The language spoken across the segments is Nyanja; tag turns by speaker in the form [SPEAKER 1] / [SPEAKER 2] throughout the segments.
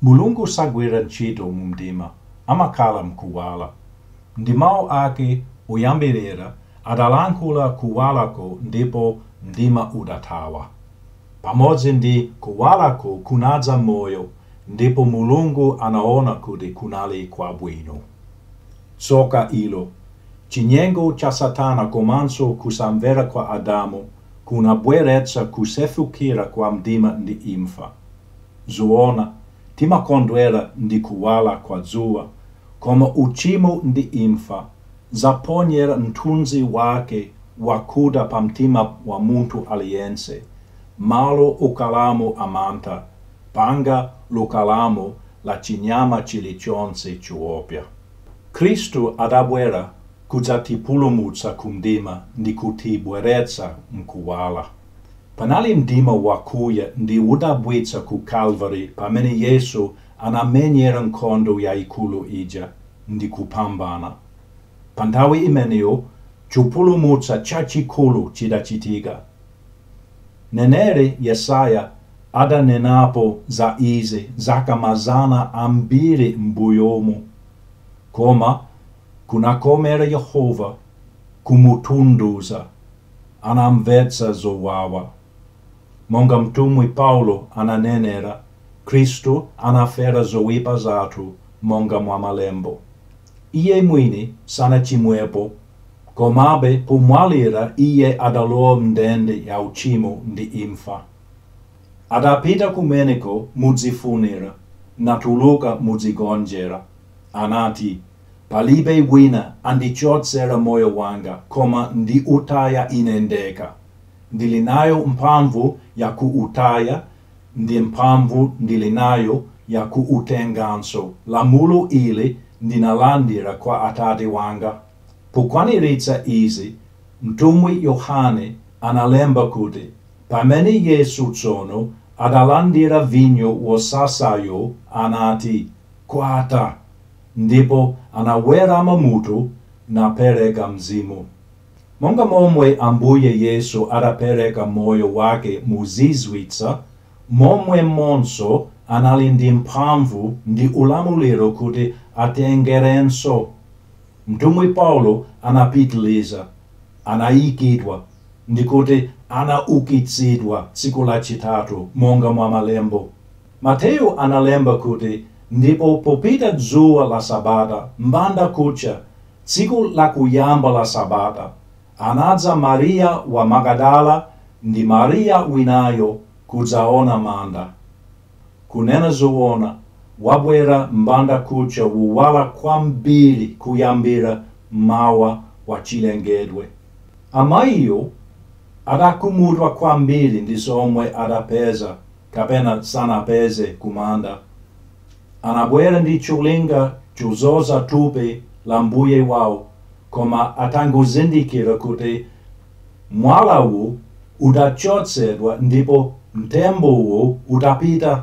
[SPEAKER 1] Mulungu sagwira ntchito mumdima, amakhala m'kuwala. Ndi Mawu ake oyambirira adalankhula kuwalako ndipo mdima udathawa. Pamodzi ndi kuwalako kunadza moyo ndipo Mulungu anaona kuti kunali kwabwino. Tsoka ilo! Chinyengo cha Satana komanso kusamvera kwa Adamu kunabweretsa kusefukira kwa mdima ndi imfa. Zoona, timakondwera ndi kuwala kwa dzuwa, koma uchimo ndi imfa zaponyera mthunzi wake wakuda pamtima wa munthu aliyense, malo okhalamo a mantha, phanga lokhalamo la chinyama chilichonse choopsya. Khristu adabwera kudzatipulumutsa ku mdima ndi kutibweretsa m'kuwala. Panali mdima wakuya ndi wodabwitsa ku Kalvari pamene Yesu anamenyera nkhondo yaikulu ija ndi kupambana. Pa nthawi imeneyo chipulumutso chachikulu chidachitika. Mneneri Yesaya adanenapo za izi zaka mazana ambiri m'mbuyomu, koma kunakomera Yehova kumutundudza. Anamumvetsa zowawa. Monga mtumwi Paulo ananenera, Khristu anafera zoipa zathu monga mwa malembo. Iye mwini sanachimwepo, komabe pomwalira Iye adalowa m'ndende ya uchimo ndi imfa. Adapita kumeneko modzifunira, natuluka modzigonjera. Anati, Palibe wina andichotsera moyo wanga, koma ndiutaya Ine ndekha. Ndili nayo mphamvu yakuutaya ndi mphamvu ndili nayo ya kuutenganso, lamulo ili ndinalandira kwa Atate wanga. Pokwaniritsa izi, mtumwi Yohane analemba kuti, Pamene Yesu tsono adalandira vinyo wosasayo, anati, Kwatha, ndipo anawerama mutu napereka mzimu. Monga momwe Ambuye Yesu adapereka moyo wake mozizwitsa, momwemonso anali ndi mphamvu ndi ulamuliro kuti atengerenso. Mtumwi Paulo anapitiliza, Anaikidwa, ndi kuti anaukitsidwa tsiku lachitatu, monga mwa malembo. Mateyu analemba kuti, Ndipo popita dzuwa la sabata, mbanda kucha, Tsiku lakuyamba la Sabata, anadza Maria wa Magadala ndi Maria winayo kudzaona manda. Kunena zoona, wabwera mbandakucha wowala kwambiri kuyambira m'mawa wa chilengedwe. Amayiwo adakhumudwa kwambiri ndi zomwe adapeza. kapena sanapeze kumanda. Anabwera ndi cholinga chodzoza thupi la Mbuye wawo koma atangozindikira kuti mwalawo udachotsedwa ndipo mtembowo udapita,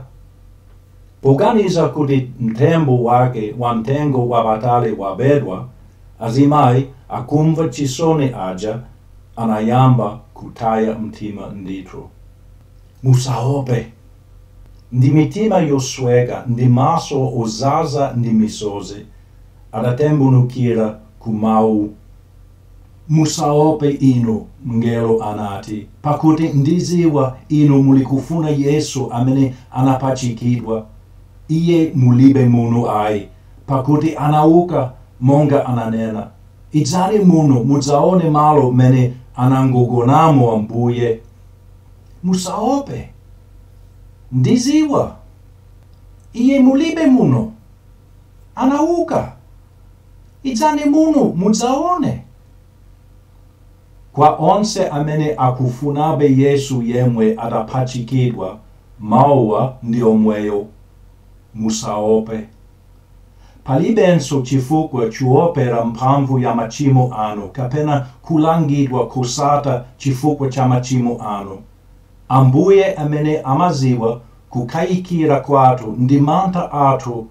[SPEAKER 1] poganiza kuti mtembo wake wa mtengo wapatali wabedwa, azimayi akumva chisoni aja anayamba kutaya mtima ndithu. Musaope. Ndi mitima yosweka ndi maso odzaza ndi misozi, adatembenukira ku mawu Musaope inu, mngelo anati, pakuti ndidziwa inu mulikufuna Yesu amene anapachikidwa. Iye mulibe muno ayi, pakuti anauka monga ananena. Idzani muno mudzaone malo m'mene anagonamo Ambuye. Musaope. Ndidziwa. Iye mulibe muno. Anauka! Idzani muno mudzaone. Kwa onse amene akufunabe Yesu yemwe adapachikidwa, mauwa ndi omwewo. Musaope. Palibenso chifukwa choopera mphamvu ya machimo anu kapena kulangidwa kosatha chifukwa cha machimo anu. Ambuye amene amadziwa kukayikira kwathu ndi mantha athu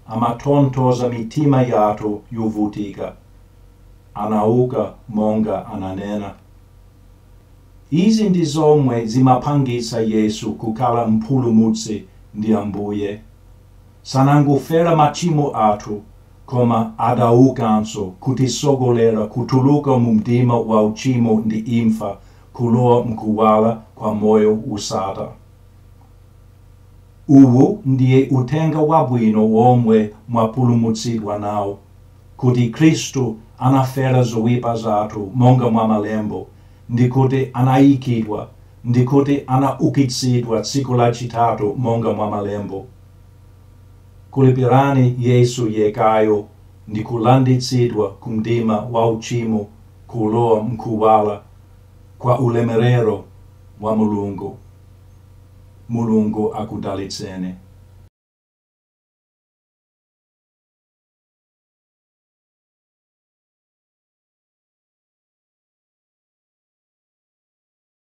[SPEAKER 1] amatonthoza mitima yathu yovutika. Anauka monga ananena. Izi ndi zomwe zimapangitsa Yesu kukhala Mpulumutsi ndi Ambuye. sanangofera machimo athu koma adaukanso kutitsogolera kutuluka mu mdima wa uchimo ndi imfa kulowa mkuwala kwa moyo wosatha. Uwu ndiye Uthenga Wabwino womwe mwapulumutsidwa nawo, kuti Khristu anafera zoipa zathu monga mwa malembo, ndi kuti anaikidwa ndi kuti anaukitsidwa tsiku lachitatu monga mwa malembo. Khulupirirani Yesu yekayo ndi kulanditsidwa kumdima wa uchimo kulowa mkuwala kwa ulemerero wa Mulungu. Mulungu akudalitseni.